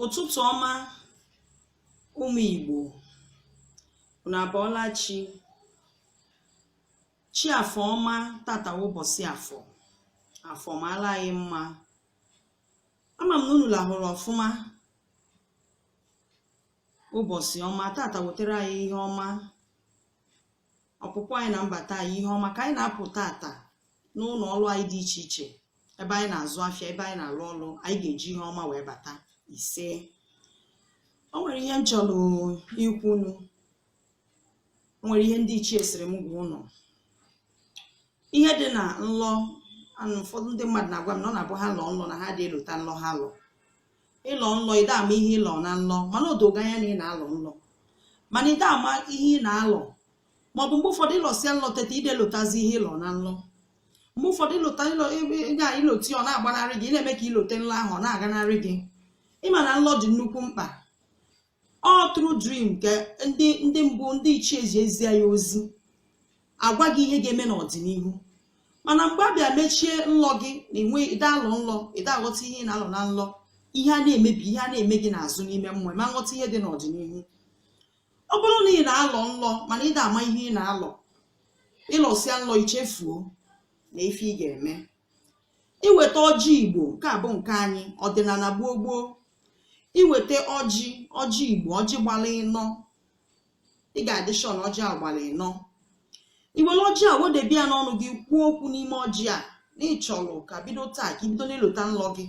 ụtụtụ ọma ụmụ Igbo unu abọọla chi chi afọ ọma tata bụ ụbọsị afọ afọ mara anyị mma ama m na unu lahụrụ ọfụma ụbọsị ọma tata wetara anyị ihe ọma ọpụpụ anyị na mbata anyị ihe ọma ka anyị na-apụ tata n'ụnọ ọlụ anyị dị iche iche ebe anyị na-azụ afịa ebe anyị na-alụ ọlụ anyị ga-eji ihe ọma wee bata ise o nwere ihe m chọlụ ikwu unu o nwere ihe ndị ichie sịrị m gwa unu ihe dị na nlọ anụ ụfọdụ ndị mmadụ na-agwa m na ọ na-abụ ha lọọ nlọ na ha adị elota nlọ ha lọ ị lọọ nlọ ị da-ama ihe ị lọ na nlọ mana o do gị anya na ị na-alọ nlọ mana ị da-ama ihe ị na-alọ maọbụ mgbe ụfọdụ ị lọsịa nlọ teta ị da-elotazi ihe ị lọ na nlọ mgbe ụfọdụ i lota ịlọ ebe ebe a i lote ọ na-agbanarị gị ị na-eme ka i lote nlọ ahụ ọ na-aganarị gị ị ma na nlọ dị nnukwu mkpa ọ through dream ka ndị ndị mbụ ndị ichie ji ezie ya ozi agwa gị ihe ga-eme n'ọdịnihu mana mgbe a bịa mechie nlọ gị na enwe ị da-alọ nlọ ị da-aghọta ihe ị na-alọ na nlọ ihe a na-emebi ihe a na-eme gị n'azụ n'ime mmụọ ị ma aghọta ihe dị n'ọdịnihu ọ bụrụ na ị na-alọ nlọ mana ị da-ama ihe ị na-alọ ị lọsịa nlọ i chefuo na ife ị ga-eme i weta ọjị Igbo nke a bụ nke anyị ọdịnana gboo gboo i weta ọjị ọjị Igbo ọjị gbara ịnọ ị ga-adị sure na ọjị a gbara ịnọ i were ọjị a wedebe ya n'ọnụ gị kwuo okwu n'ime ọjị a na ị chọrọ ka bido taa ka i bido na-elota nlọ gị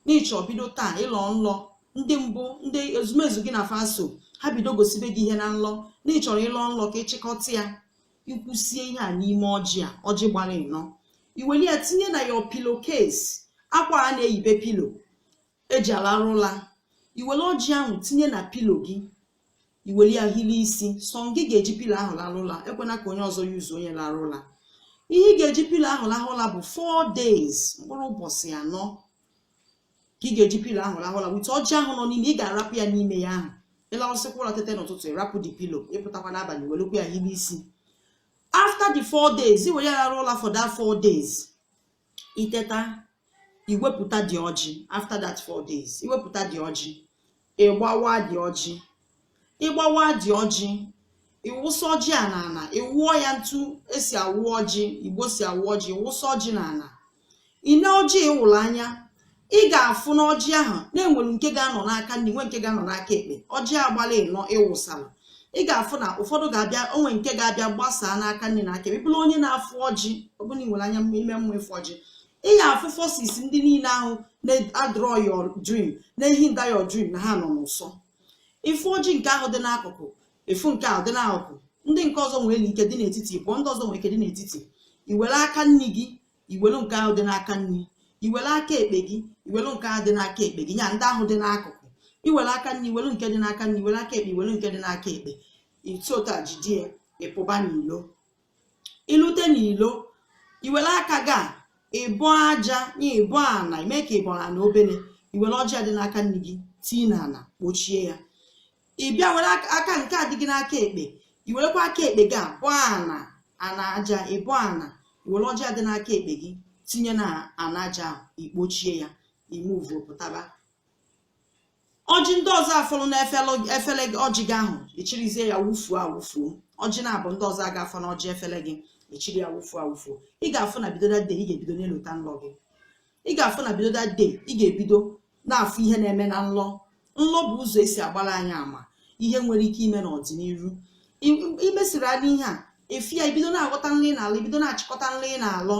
na ị chọ bido taa ị lọọ nlọ ndị mbụ ndị ezumezu gị na fa so ha bido gosibe gị ihe na nlọ na ị chọrọ ị lọọ nlọ ka ị chịkọta ya i kwusịa ihe a n'ime ọjị a ọjị gbara ịnọ i were ya tinye na your pillow case akwa a na-eyibe pillow e ji alarụ ụla i were ọjị ahụ tinye na pillow gị i were ya hili isi sọ gị ga-eji pillow ahụ larụ ụla ekwena ka onye ọzọ use ya larụ ụla ihe ị ga-eji pillow ahụ lahụ ụla bụ 4 days mkpụrụ ụbọsị anọ ka ị ga-eji pillow ahụ lahụ ụla with ọjị ahụ nọ n'ime ị ga-arapụ ya n'ime ya ahụ ị lahụsịkwa ụla tete n'ụtụtụ ị rapụ the pillow ị pụtakwa n'abalị welekwa ya hili isi after the 4 days i were ya larụ ụla for that 4 days i teta i wepụta the ọjị after that four days i wepụta the ọjị ị gbawa the ọjị ị gbawa the ọjị ị wụsa ọjị a n'ana ị wụọ ya etu e si awụ ọjị Igbo si awụ ọjị ị wụsa ọjị n'ana i nee ọjị ị wụrụ anya ị ga-afụ na ọjị ahụ na enwere nke ga-anọ n'aka nri nwe nke ga-anọ n'aka ekpe ọjị a gbala ịnọ ịwụsala ị ga-afụ na ụfọdụ ga-abịa o nwe nke ga-abịa gbasaa n'aka nri na aka ekpe bụrụ onye na-afụ ọjị ọ bụrụ na ị nwere anya ime mmụọ ịfụ ọjị ị ga-afụ forces ndị niile ahụ na-adraw your dream na-ehinder your dream na ha nọ n'ụsọ ịfụ ọjị nke ahụ dị n'akụkụ ịfụ nke ahụ dị n'akụkụ ndị nke ọzọ nwere ike dị n'etiti pụọ ndị ọzọ nwere ike dị n'etiti i were aka nri gị iwelu nke ahụ dị n'aka nri iwelu aka ekpe gị iwelu nke ahụ dị n'aka ekpe gị ya ndị ahụ dị n'akụkụ iwelu aka nri iwelu nke dị n'aka nri iwelu aka ekpe iwelu nke dị n'aka ekpe i si otu a jide ya ịpụba n'ilo ilute n'ilo iwelu aka gị a ịbọ aja na ịbọ ana ime ka ịbọ ana obere iwere ọjị a dị n'aka nri gị tii n'ana kpochie ya ị bịa were aka nke a dị gị n'aka ekpe i werekwa aka ekpe gị a bọọ ana ana aja ịbọ ana were ọjị a dị n'aka ekpe gị tinye na ana aja ahụ ikpochie ya i move pụtaba ọjị ndị ọzọ a fọlụ na efele gị ọjị gị ahụ ị chịrịzie ya wufuo awufuo ọjị na-abụ ndị ọzọ ga-afọ na ọjị efele gị ị chịrị ya wufuo awufuo ị ga-afụ na bido that day ị ga-ebido na-elota nlọ gị ị ga-afụ na bido that day ị ga-ebido na-afụ ihe na-eme na nlọ nlọ bụ ụzọ esi agbara anyị ama ihe nwere ike ime n'ọdịniru I- imesiri anyị ihe a efi ya ibido na-aghọta nlọ ị na-alọ ibido na-achịkọta nlọ ị na-alọ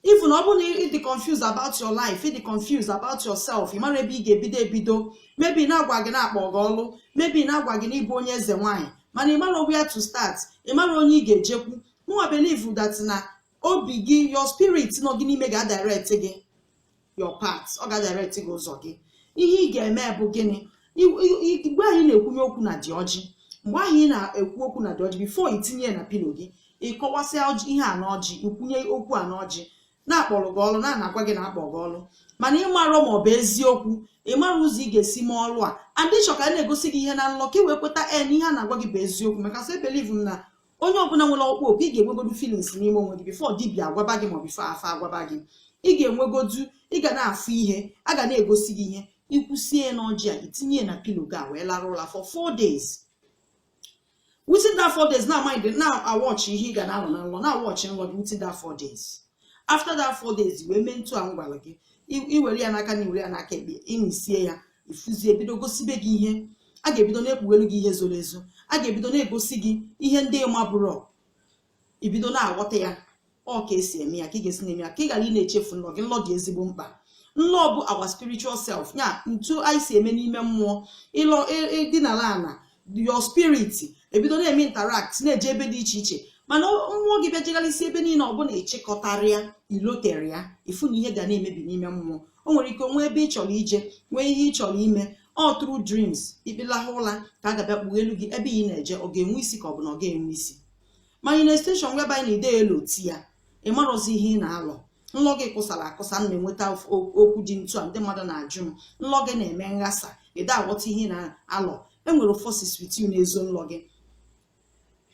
even ọ bụrụ na ị dị confused about your life ị dị confused about yourself ị marọ ebe ị ga-ebido ebido maybe a na-agwa gị na-akpọ gị ọlụ maybe a na-agwa gị na ịbụ onye eze nwaanyị mana ị marọ where to start ị marọ onye ị ga-ejekwu mụnwa believe that na obi gị your spirit nọ gị n'ime ga-adirect gị your path ọ ga-adirect gị ụzọ gị ihe ị ga-eme bụ gịnị I- i- i- mgbe ahụ ị na-ekwunye okwu na the ọjị mgbe ahụ ị na-ekwu okwu na the ọjị before itinye ya na pillow gị ịkọwasịa ọjị ihe a n'ọjị ikwunye okwu a n'ọjị na a kpọrọ gị ọrụ na a na-agwa gị na-akpọ gị ọrụ mana ịmarọ ma ọ bụ eziokwu ịmarọ ụzọ ị ga-esi mee ọrụ a and ị chọ ka a na-egosi gị ihe na nlọ ka ị wee kweta na ihe a na-agwa gị bụ eziokwu because ebelieve m na onye ọbụla nwere ọkpụkpọ oku ị ga-enwegodu feelings n'ime onwe gị before dibia agwaba gị maọbụ before afa agwaba gị ị ga-enwegodu ị ga na-afụ ihe a ga na-egosi gị ihe ịkwụsie ya n'ọjị a itinye ya na pillow gị a wee lara ụla for four days within that four days na-amind na-awatch ihe ị ga na-alọ na nlọ na-awatch nlọ gị within that four days after that four days wee mee ntu a m gwara gị i- i were ya n'aka nri iwere ya n'aka ekpe inisie ya ifuzi ebido gosibe gị ihe a ga-ebido na-ekpughelu gị ihe zoro ezo a ga-ebido na-egosi gị ihe ndị ịmabụrọ ibido na-aghọta ya ọ ka esi eme ya ka ị ga-esi na-eme ya ka ị ghara ị na-echefu nlọ gị nlọ dị ezigbo mkpa nlọ bụ our spiritual self ya ntu anyị si eme n'ime mmụọ ịlọ dị n'ala ala your spirit ebido na-eme interact na-eje ebe dị iche iche mana mmụọ gị bịa jegharịsi ebe niile ọ bụrụ na ịchịkọtarọ ya ilotarọ ya ifu na ihe ga na-emebi n'ime mmụọ o nwere ike nwee ebe ị chọrọ ije nwee ihe ị chọrọ ime ọ through dreams ikpelahụ ụla ka a ga-abịa kpugheelu gị ebe ị na-eje ọ ga-enwe isi ka ọ bụ na ọ ga-enwe isi manifestation whereby ị naghịdị eloti ya ị marọzi ihe ị na-alọ nlọ gị kụsara akụsa m na-enweta okwu dị ntu a ndị mmadụ na-ajụ m nlọ gị na-eme nghasa ị da-aghọta ihe ị na-alọ enwere forces with you na-ezo nlọ gị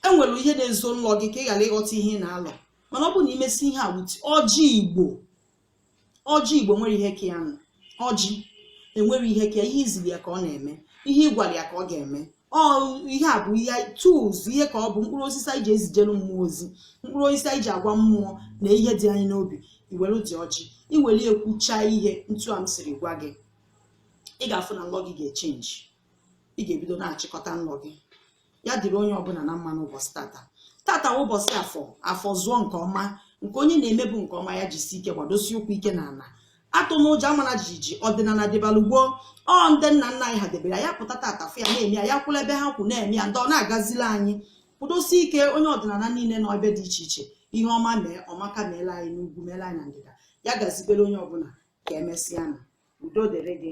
enwere ihe na-ezo nlọ gị ka ị ghara ịghọta ihe ị na-alọ mana ọ bụrụ na i mesi ihe a with ọjị igbo ọjị igbo nwere ihe ka ya nụ ọjị enwere ihe ka ya ihe i ziri ya ka ọ na-eme ihe ị gwara ya ka ọ ga-eme ọ ihe a bụ ihe tools ihe ka ọ bụ mkpụrụ osisi anyị ji ezijelu mmụọ ozi mkpụrụ osisi anyị ji agwa mmụọ na ihe dị anyị n'obi i weredị ọjị i were kwucha ihe ntu a m siri gwa gị ị ga-afụ na nlọ gị ga-echenji ị ga-ebido na-achịkọta nlọ gị ya dịrị onye ọbụla na mma n'ụbọchị tata tata bụ ụbọchị afọ afọ zụọ nke ọma nke onye na-emebu nke ọma ya jisi ike gbadosi ụkwụ ike n'ala atụna ụjọ amana jijiji ọdịnala dịbara gboo ọ ndị nna nna anyị ha debere ya pụta tata fụ ya na-eme ya ya kwụla ebe ha kwụ na-eme ya ndị ọ na-agazila anyị kwụdosie ike onye ọdịnala niile nọ ebe dị iche iche ihe ọma mee ọmaka meela anyị n'ugwu meela anyị na ndịda ya gazibere onye ọbụla ka emesịa na udo dịrị gị